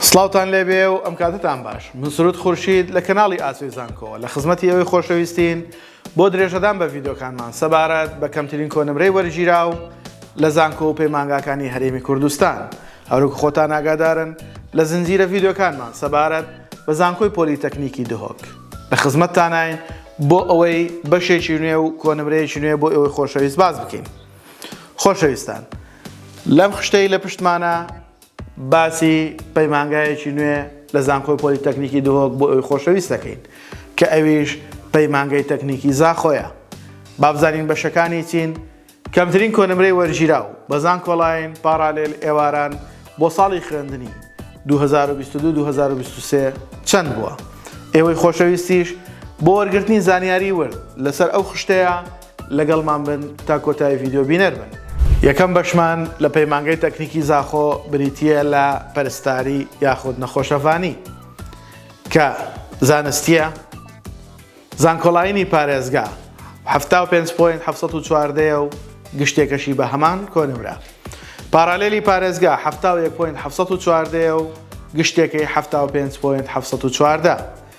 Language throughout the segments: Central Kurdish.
سڵاوتان لێبێ و ئەم کاتەتان باش من سرود خورشید لە کەناڵی ئاسۆی زانکۆوە لە خزمەتی ئەوەی خۆشەویستین بۆ درێژەدان بە ڤیدۆکانمان سەبارەت بە کەمترین کۆنمرەی وەرگیراو لە زانکۆ و پەیمانگاکانی هەرێمی کوردستان هەروک خۆتان ئاگادارن لە زنجیرە ڤیدۆکانمان سەبارەت بە زانکۆی پۆلیتەکنیکی دهۆک لە خزمەتتانین بۆ ئەوەی بەشێکی نوێ و کۆنمرەیەکی نوێ بۆ ئەوەی خۆشەویست باز بکەین خۆشەویستان لەم خشتەی لە پشتمانە باسی پەیمانگایەکی نوێ لە زانکۆی پۆلیتەکنیکی دهۆک بۆ ئەوی خۆشەویست دەکەین کە ئەویش پەیمانگەی تەکنیکی زاخۆیە. با بزانین بەشەکانی چین؟ کەمترین کۆنمرەی وەرگیراو، بە زانکۆلاین، پاڕالێل، ئێواران، بۆ ساڵی خوێندنی، دوو هەزار و بیست و دوو، دوو هەزار و بیست و سێ، چەند بووە؟ ئێوەی خۆشەویستیش، بۆ وەرگرتنی زانیاری ورد لەسەر ئەو خشتەیە، لەگەڵمان بن تا کۆتایی ڤیدیۆ بینەر بن. یەکەم بەشمان لە پەیمانگەی تەکنیکی زاخۆ بریتییە لە پەرستاری یاخود نەخۆشەڤانی کە زانستییە زانکۆڵاینی پارێزگا حەفتا و پێنج پۆینت حەفسەد و چواردەیە و گشتێکەشی بە هەمان کۆنمرە پارالێلی پارێزگا حەفتا و یەک پۆینت حەفسەد و چواردەیە و گشتێکەی حەفتا و پێنج پۆینت حەفسەد و چواردە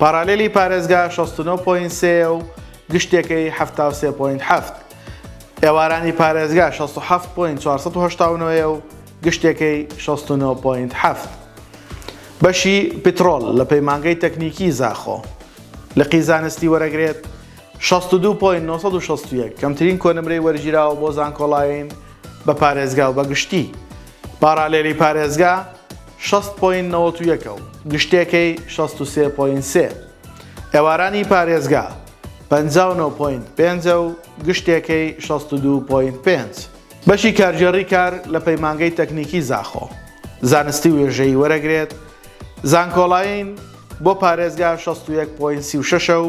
پارالێلی پارێزگا شەست و نۆ پۆینت سێ یە و گشتێکەی حەفتا و سێ پۆینت حەفت. ئێوارانی پارێزگا شەست و حەفت پۆینت چوار سەد و هەشتا و نۆ یە و گشتێکەی شەست و نۆ پۆینت حەفت. بەشی پترۆل لە پەیمانگەی تەکنیکی زاخۆ لقی زانستی وەرەگرێت شەست و دوو پۆینت نۆ سەد و شەست و یەک، کەمترین کۆنمرەی وەرگیراوە بۆ زانکۆڵاین بە پارێزگا و بە گشتی. پارالێلی پارێزگا شەست پۆینت نەوەت و یەکە و گشتێکەی شەست و سێ پۆینت سێ. ئێوارانی پارێزگا پەنجا و نۆ پۆینت پێنجە و گشتێکەی شەست و دوو پۆینت پێنج. بەشی کارگێڕی کار لە پەیمانگەی تەکنیکی زاخۆ زانستی وێژەیی وەرەگرێت، زانکۆلاین بۆ پارێزگا شەست و یەک پۆینت سی و شەش ە و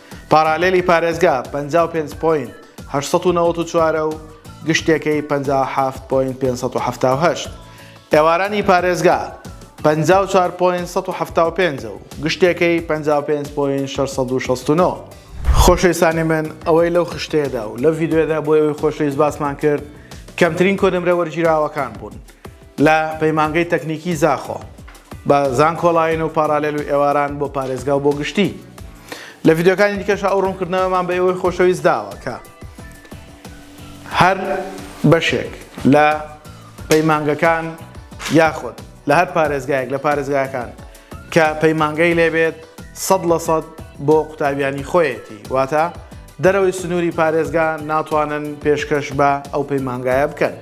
پارالێلی پارێزگا پەنجا و پێنج پۆینت هەشت سەد و نەوەد و چوار ە و گشتێکەی پەنجا و حەفت پۆینت پێنج سەد و حەفتا و هەشت. ئێوارانی پارێزگا پەنجا و چوار پۆینت سەد و حەفتا و پێنج ە و گشتێکەی پەنجا و پێنج پۆینت شەش سەد و شەست و نۆ. خۆشەویستانی من ئەوەی لەو خشتەیەدا و لەو ڤیدیۆیەدا بۆ ئێوەی خۆشەویست باسمان کرد کەمترین کۆنمرە وەرگیراوەکان بوون. لە پەیمانگەی تەکنیکی زاخۆ بە زانکۆڵاین و پاراالێل و ئێواران بۆ پارێزگا و بۆ گشتی لە ڤیددیوکانی دیکەشە ئەو ڕوونکردنەوەمان بە ئێوەی خۆشەویست داوە کە هەر بەشێک لە پەیمانگەکان یاخود لە هەر پارێزگایەک لە پارێزگاکان کە پەیمانگەی لێبێت سەد لە سەد بۆ قوتابیانی خۆیەتی واتە دەرەوەی سنووری پارێزگا ناتوانن پێشکەش بە ئەو پەیمانگایە بکەن.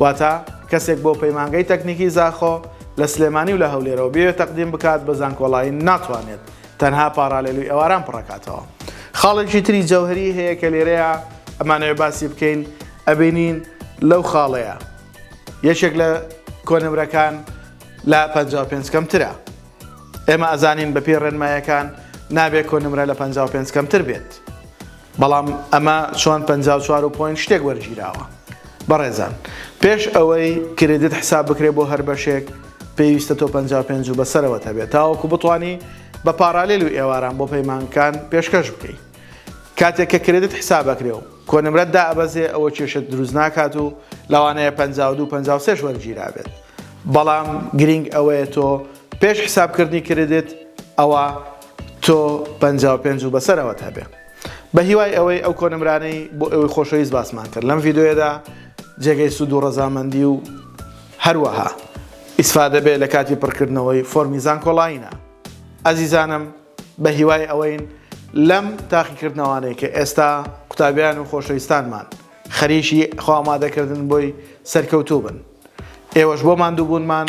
واتە کەسێک بۆ پەیمانگەی تەکنیکی زاخۆ لە سلێمانی و لە هەولێرەوە بیەوێت تەقدیم بکات بە زانکۆڵاین ناتوانێت تەنها پاڕالێلوی ئەواران پڕەکاتەوە خاڵێکی تری جەوهەری هەیە کە لێرەیە ئەمانەوێ باسی بکەین ئەبینین لەو خاڵەیە یەکێک لە کۆنمرەکان لە 55 کەمترە ئێمە ئەزانین بەپێی ڕێنمایەکان نابێت کۆنمرە لە 55 کەمتر بێت بەڵام ئەمە چۆن پەنجا و چوار و پۆینت شتێک وەرگیراوە بەڕێزان پێش ئەوەی کریدت حساب بکرێ بۆ هەر بەشێک پێویستە تۆ پەنجا و پێنج و بەسەرەوەت هەبێت تاوەکو بتوانی بە پارالیل و ئێواران بۆ پەیمانگکان پێشکەش بکەی کاتێک کە کریدت حساب ئەکرێ و کۆنمرەت دائەبەزێ ئەوە کێشەت دروست ناکات و لەوانەیە پەنجا و دوو پەنجا و سێش وەرگیرابێت بەڵام گرینگ ئەوەیە تۆ پێش حسابکردنی کریدت ئەوە تۆ پەنجا و پێنج و بەسەرەوەت هەبێ. بەهیوای ئەوەی ئەو کۆنمرانەی بۆ ئێوەی خۆشەویست باسمان کرد لەم ڤیدیۆیەدا جێگەی سوود و ڕەزامەندی و هەروەها ئیسفادە بێ لە کاتی پڕکردنەوەی فۆرمی زانکۆڵاینە ئەزیزانم بەهیوای ئەوەین لەم تاقیکردنەوانەی کە ئێستا قوتابیان و خۆشەویستانمان خەریکی خۆ ئامادەکردن بۆی سەرکەوتوو بن ئێوەش بۆ ماندووبوونمان